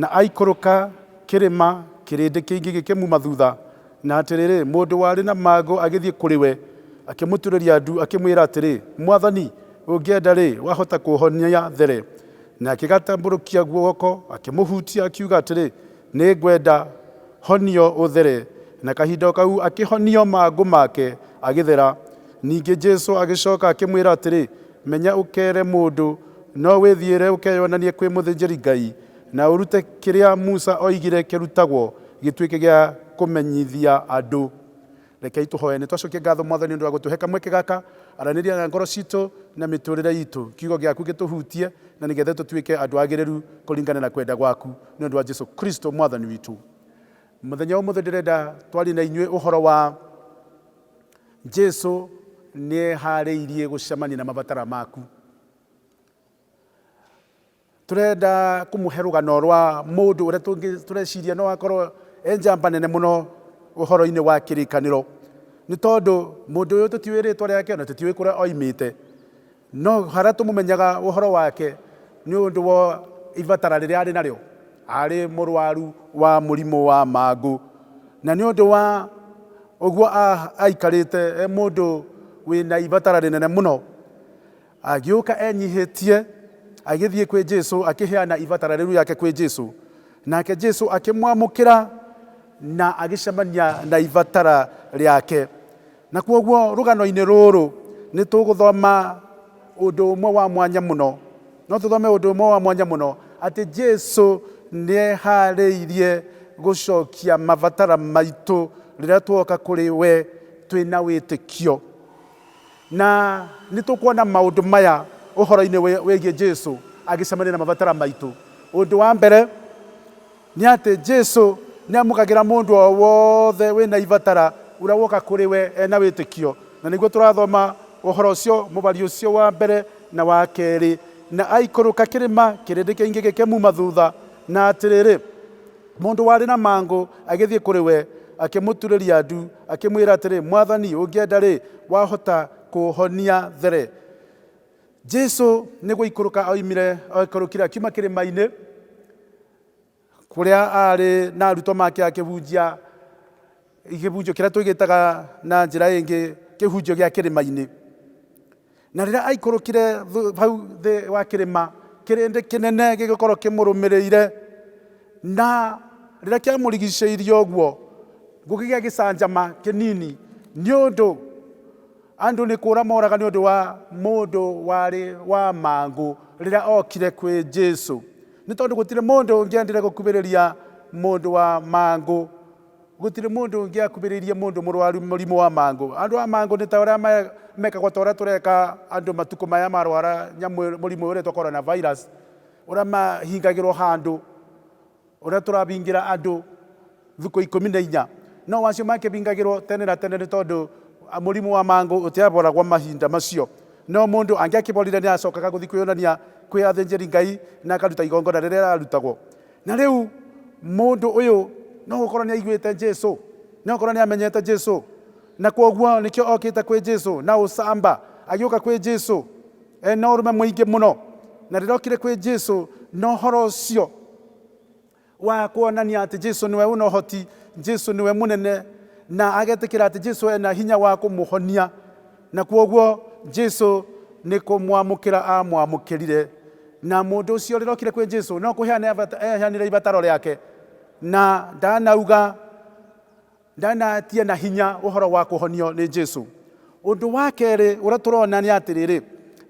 Na aikũrũka kĩrĩma, kĩrĩndĩ kĩingĩ gĩkĩmuuma thutha, na atĩrĩrĩ, mũndũ warĩ na mangũ agĩthiĩ kũrĩ we, akĩmũturĩria ndu, akĩmwĩra atĩrĩ, Mwathani, ũngĩenda-rĩ, wahota kũũhonia there. Na akĩgatambũrũkia guoko, akĩmũhutia, akiuga atĩrĩ, Nĩ ngwenda, honio ũthere. Na kahinda o kau akĩhonio mangũ make, agĩthera. Ningĩ Jesu agĩcoka akĩmwĩra atĩrĩ, Menya ũkeere mũndũ, no wĩthiĩre ũkeyonanie kwĩ mũthĩnjĩri-Ngai, na ũrute kĩrĩa Musa oigire kĩrutagwo gĩtuĩke gĩa kũmenyithia andũ. Rekei tũhoe. Nĩ twacokia ngatho, Mwathani, nĩ ũndũ wa gũtũhe kamweke gaka. Aranĩria na ngoro citũ na mĩtũũrĩre itũ. Kiugo gĩaku gĩtũhutie, na nĩ getha tũtuĩke andũ agĩrĩru kũringana na kwenda gwaku, nĩ ũndũ wa Jesu Kristo Mwathani witũ. Mũthenya wa ũmũthĩ ndĩrenda twarie na inyuĩ ũhoro wa. Jesu nĩ eharĩirie gũcemania na mabatara maku. Tũrenda kũmũhe rũgano rwa mũndũ ũrĩa tũngĩ- tũreciria no akorwo e njamba nene mũno ũhoro-inĩ wa kĩrĩkanĩro. Nĩ tondũ mũndũ ũyũ tũtiũĩ rĩtwa rĩake na tũtiũĩ kũrĩa oimĩte. No harĩa tũmũmenyaga ũhoro wake nĩ ũndũ wa ibatara rĩrĩa arĩ narĩo, arĩ mũrwaru wa mũrimũ wa mangũ, na nĩ ũndũ wa ũguo aikarĩte e mũndũ wĩ na ibatara rĩnene mũno, agĩũka enyihĩtie, agĩthiĩ kwĩ Jesu, akĩheana ibatara rĩu rĩake kwĩ Jesu, nake Jesu akĩmwamũkĩra na agĩcemania na ibatara rĩake. Na kwoguo rũgano-inĩ rũrũ nĩ tũgũthoma ũndũ ũmwe wa mwanya mũno, no tũthome ũndũ ũmwe wa mwanya mũno, atĩ Jesu nĩ eharĩirie gũcokia mabatara maitũ rĩrĩa tuoka kũrĩ we twĩna wĩtĩkio. Na nĩ tũkuona maũndũ maya ũhoro-inĩ wĩgiĩ Jesu agĩcemania na mabatara maitũ. Ũndũ wa mbere, Nĩ atĩ Jesu nĩ amũkagĩra mũndũ o wothe wĩ na ibatara ũrĩa woka kũrĩ we e na wĩtĩkio. Na nĩguo tũrathoma ũhoro ũcio mũbari ũcio wa mbere na wa kerĩ, Na aikũrũka kĩrĩma, kĩrĩndĩ kĩingĩ gĩkĩmuma thutha, na atĩrĩrĩ, mũndũ warĩ na mangũ agĩthiĩ kũrĩ we, akĩmũturĩria ndu, akĩmwĩra atĩrĩ, Mwathani, ũngĩenda-rĩ, wahota kũũhonia there. Jesu nĩ gũikũrũka oimire, aikũrũkire akiuma kĩrĩma-inĩ, kũrĩa arĩ na arutwo make akĩhunjia kĩhunjio kĩrĩa tũgĩtaga na njĩra ĩngĩ kĩhunjio gĩa kĩrĩma-inĩ na rĩrĩa aikũrũkire hau thĩ wa kĩrĩma kĩrĩndĩ kĩnene gĩgĩkorwo kĩmũrũmĩrĩire na rĩrĩa kĩamũrigicĩirie ũguo gũkĩgĩa gĩcanjama kĩnini nĩ ũndũ andũ nĩ kũra moraga nĩ ũndũ wa mũndũ warĩ wa mangũ rĩrĩa okire kwĩ jesu Nĩ tondũ gũtirĩ mũndũ ũngĩendire gũkuhĩrĩria mũndũ wa mangũ. Gũtirĩ mũndũ ũngĩakuhĩrĩirie mũndũ mũrwaru mũrimũ wa mangũ. Andũ a mangũ nĩ ta ũrĩa mekagwo ta ũrĩa tũreka andũ matukũ maya marwara nyamũ mũrimũ ũretwo coronavirus, ũrĩa mahingagĩrwo handũ, ũrĩa tũrahingĩra andũ. Thikũ ikũmi na inya. No wacio mangĩhingagĩrwo tene na tene nĩ tondũ mũrimũ wa mangũ ũtiaboragwo mahinda macio. No mũndũ angĩakĩborire nĩ aacokaga gũthiĩ kwĩyonania kwĩ athĩnjĩri-Ngai na akaruta igongona rĩrĩa rĩarutagwo. Na rĩu mũndũ ũyũ no gũkorũo nĩ aiguĩte Jesu, no gũkorũo nĩ amenyete Jesu, na kwoguo nĩkĩo okĩte kwĩ Jesu na ũcamba. Agĩũka kwĩ Jesu e na ũrũme mũingĩ mũno. Na rĩrĩa okire kwĩ Jesu na ũhoro ũcio. Wa kuonania atĩ Jesu nĩwe wĩna ũhoti, Jesu nĩwe mũnene, na agetĩkĩra atĩ Jesu ena hinya wa kũmũhonia. Na kwoguo Jesu nĩ kũmwamũkĩra aamwamũkĩrire. Na mũndũ ũcio rĩrĩa okire kwĩ Jesu, no kũheana eheanire ibataro rĩake. Na ndanauga Ndanatia na hinya ũhoro wa kũhonio nĩ Jesu. Ũndũ wa kerĩ ũrĩa tũrona nĩ atĩrĩrĩ,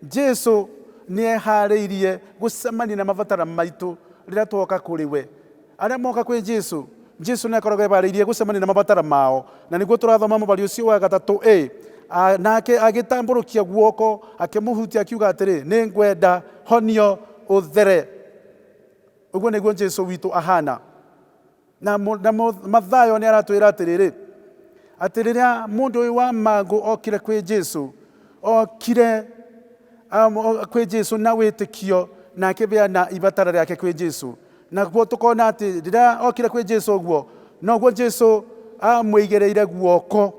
Jesu nĩ eharĩirie gũcemania na mabatara maitũ rĩrĩa twoka kũrĩ we. Arĩa moka kwĩ Jesu, Jesu nĩ akoragwo eharĩirie gũcemania na mabatara mao, na nĩguo tũrathoma mũbari ũcio wa gatatũ ĩ, nake agĩtambũrũkia guoko akĩmũhutia akiuga atĩrĩ, nĩ ngwenda honio ũthere. Ũguo nĩguo Jesu witũ ahana. Na mũ- na mũ- Mathayo nĩ aratwĩra atĩrĩrĩ, atĩ rĩrĩa mũndũ ũyũ wa mangũ okire kwĩ Jesu, okire um, o- kwĩ Jesu na wĩtĩkio na akĩbeana ibatara rĩake kwĩ Jesu. Naguo tũkona atĩ rĩrĩa okire kwĩ Jesu ũguo, noguo Jesu amwĩigĩrĩire guoko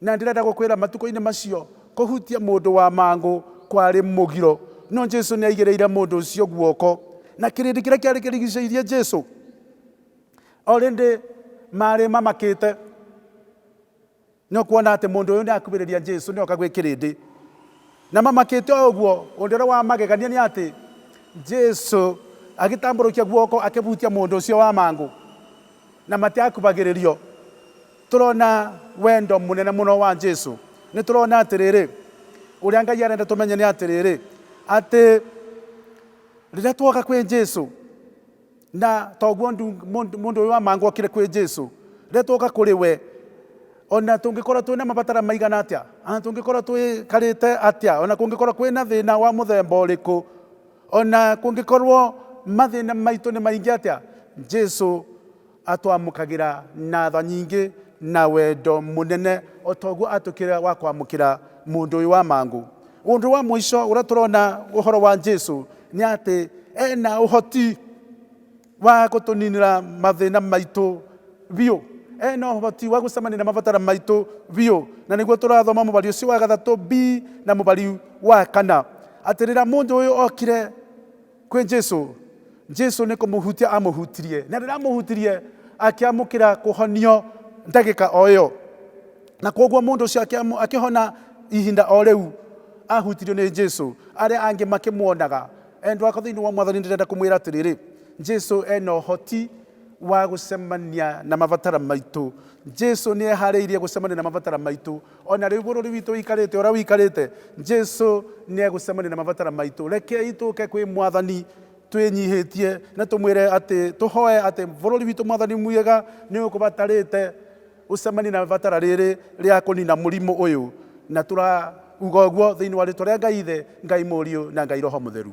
Na ndĩrenda gũkwĩra matukũ-inĩ macio kũhutia mũndũ wa mangũ kwarĩ mũgiro. No Jesu nĩ aigĩrĩire mũndũ ũcio guoko. Na kĩrĩndĩ kĩrĩa kĩarĩ kĩrigicĩirie Jesu o rĩndĩ maarĩ mamakĩte nĩ o kuona atĩ mũndũ ũyũ nĩ akuhĩrĩria Jesu nĩ oka gwĩ kĩrĩndĩ. Na mamakĩte o ũguo, ũndũ ũrĩa wa magegania nĩ atĩ Jesu agĩtambũrũkia guoko akĩhutia mũndũ ũcio wa mangũ na matiakubagĩrĩrio. Tũrona wendo mũnene mũno wa Jesu. Nĩ tũrona atĩrĩrĩ, ũrĩa Ngai arenda tũmenye nĩ atĩrĩrĩ, atĩ rĩrĩa twoka kwĩ Jesu, na toguo mũndũ ũyũ wa mangũ okire kwĩ Jesu, rĩrĩa twoka kũrĩ we, ona tũngĩkorwo twĩ na mabatara maigana atĩa, ona tũngĩkorwo twĩkarĩte atĩa, ona kũngĩkorwo kwĩ na thĩna wa mũthemba ũrĩkũ, ona kũngĩkorwo mathĩna maitũ nĩ maingĩ atĩa, Jesu Atwamũkagĩra na tha nyingĩ na wendo mũnene, o ta ũguo aatwĩkĩire wa kwamũkĩra mũndũ ũyũ wa mangũ. Ũndũ wa mũico ũrĩa tũrona ũhoro wa Jesu nĩ atĩ e na ũhoti wa gũtũninĩra mathĩna maitũ biũ. E na ũhoti wa gũcemania na mabataro maitũ biũ. Na nĩguo tũrathoma mũbari ũcio wa gathatũ B na mũbari wa kana, atĩ rĩrĩa mũndũ ũyũ okire Kwĩ Jesu. Jesu nĩ kũmũhutia amũhutirie. Na rĩrĩa amũhutirie, akĩamũkĩra kũhonio ndagĩka o ĩyo. Na kwoguo mũndũ ũcio akĩamũ- akĩhona ihinda o rĩu ahutirio nĩ Jesu. Arĩa angĩ makĩmuonaga. Endwa akwa thĩinĩ wa mwathani ndĩrenda kũmwĩra atĩrĩrĩ, Jesu ena ũhoti wa gũcemania na mabatara maitũ. Jesu nĩ eharĩirie gũcemania na mabatara maitũ. O na rĩu bũrũri witũ ũikarĩte ũrĩa ũikarĩte, Jesu nĩ egũcemania na mabatara maitũ. Rekei tũke kwĩ Mwathani twĩnyihĩtie na tũmwĩre atĩ, tũhoe atĩ bũrũri witũ Mwathani mwĩega nĩ ũkũbatarĩte ũcemanie na mabatara rĩrĩ rĩa kũnina mũrimũ ũyũ. Na tũrauga ũguo thĩinĩ wa rĩtwa rĩa Ngai Ithe, Ngai Mũriũ na Ngai Roho Mũtheru.